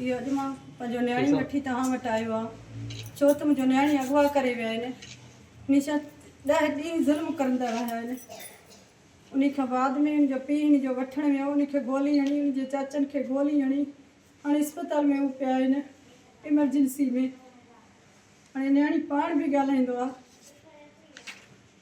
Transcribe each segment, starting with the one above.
اهو اڄ مان پنهنجو نياڻي وٺي توهان وٽ آيو آهيان ڇو ته منهنجو نياڻي اغوا ڪري ويا آهن هميشه ڏهه ڏينهن ظلم ڪرندا رهيا آهن ان کان بعد ۾ ان جو پيء ان جو وٺڻ ويو ان کي گولي هڻي ان جي چاچن کي گولي هڻي هاڻي اسپتال ۾ هو پيا آهن ايمرجنسي ۾ هاڻي نياڻي پاڻ به ڳالهائيندو آهي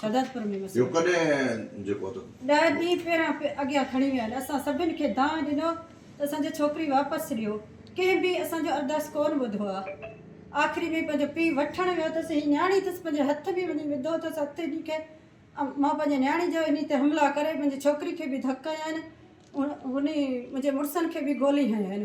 شهدادپور ۾ وسيو. اهو ڪڏهن جي پهتو؟ ڏهه ڏينهن پهريان اڳيان کڻي ويا آهن. اسان سڀن کي دانهن ڏنو ته اسان جي ڇوڪري واپس ڏيو. ڪنهن به اسان جو ارداس ڪونه ٻڌو آ. آخري ۾ پنهنجو پيء وٺڻ ويو اٿس. هي نياڻي اٿس پنهنجي هٿ ۾ وڃي وڌو اٿس هٿ انهي کي. مان پنهنجي نياڻي جو انهي تي حملا ڪري منهنجي ڇوڪري کي به ڌڪ هنيا آهن. انهي منهنجي مڙسن کي به گولي هنيون آهن.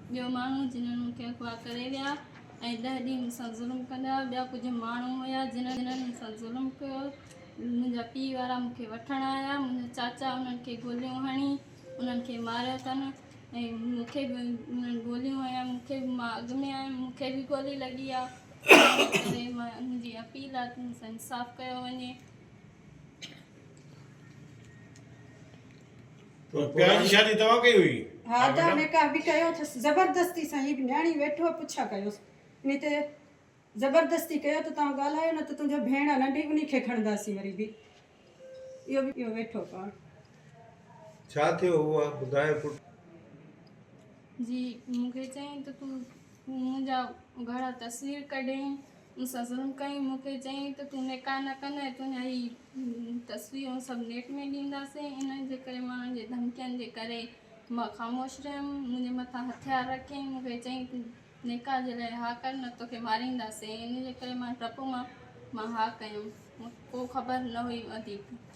ٻيو ماڻهو جنھن مون کي اغوا ڪري ويا ۽ ڏهه ڏينھن مون سان ظلم ڪندا هئا، ٻيا ڪجهه ماڻهو هيا جنھن مون سان ظلم ڪيو، منھنجا پيء وارا مون کي وٺڻ آيا، منھنجا چاچا انھن کي گوليون هڻي انھن کي ماريو اٿن ۽ مون کي به انھن گوليون هنيون، مون کي به مان اڳ ۾ آيم مون کي به گولي لڳي آ ان ڪري منھنجي اپيل آ ته مون سان انصاف ڪيو وڃي. پيار جي شادي توهان ڪئي هئي؟ ها ادا نڪاح به ڪيو اٿس زبردستي سان هي به نياڻي ويٺو پڇا ڪيوس انهي تي زبردستي ڪيو ته توهان ڳالهايو نه ته تنهنجو ڀيڻ آ ننڍي انهي کي کڻنداسين وري به اهو به اهو ويٺو پاڻ ڇا ٿيو هو آ ٻڌايو پٽ. جي مونکي چيائين ته تون منهنجا گهڻا تصوير ڪڍين ان سان ظلم ڪيائين، مون کي چيائين ته تون نڪاح نه ڪندين ۽ تنهنجا هي تصويرون سڀ نيٽ ۾ ڏينداسين، انهن جي ڪري ماڻهن جي ڌمڪين جي ڪري مان خاموش رهيم، منهنجي مٿان هٿيار رکيائين، مون کي چيائين تون نڪاح جي لاء ها ڪر نه ته توکي مارينداسين، ان جي ڪري مان ڊپ مان مان ها ڪيم، مون کي ڪو خبر نه هئي وڌيڪ.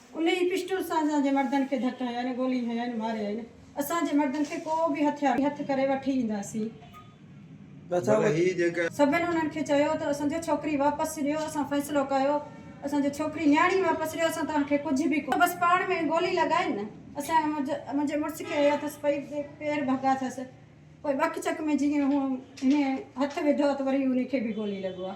انهيء پسٽل سان اسان جي مردن کي ڌڪ هنيائين، گولي هنيائين، ماريائين. اسان جي مردن کي ڪو به هٿيار هٿ ڪري وٺي اينداسين. سڀن انهن کي چيو ته اسان جي ڇوڪري واپس ڏيو، اسان فيصلو ڪيو، اسان جي ڇوڪري نياڻي واپس ڏيو، اسان توهان کي ڪجهه به ڪونه. بس پاڻ ۾ گولي لڳائين نه. اسان منهنجي مڙس کي هنيو اٿس، پئي پير ڀڳا اٿس، پوء ٻڪ چڪ ۾ جيئن هن هٿ وڌو ته وري انهي کي به گولي لڳو آ.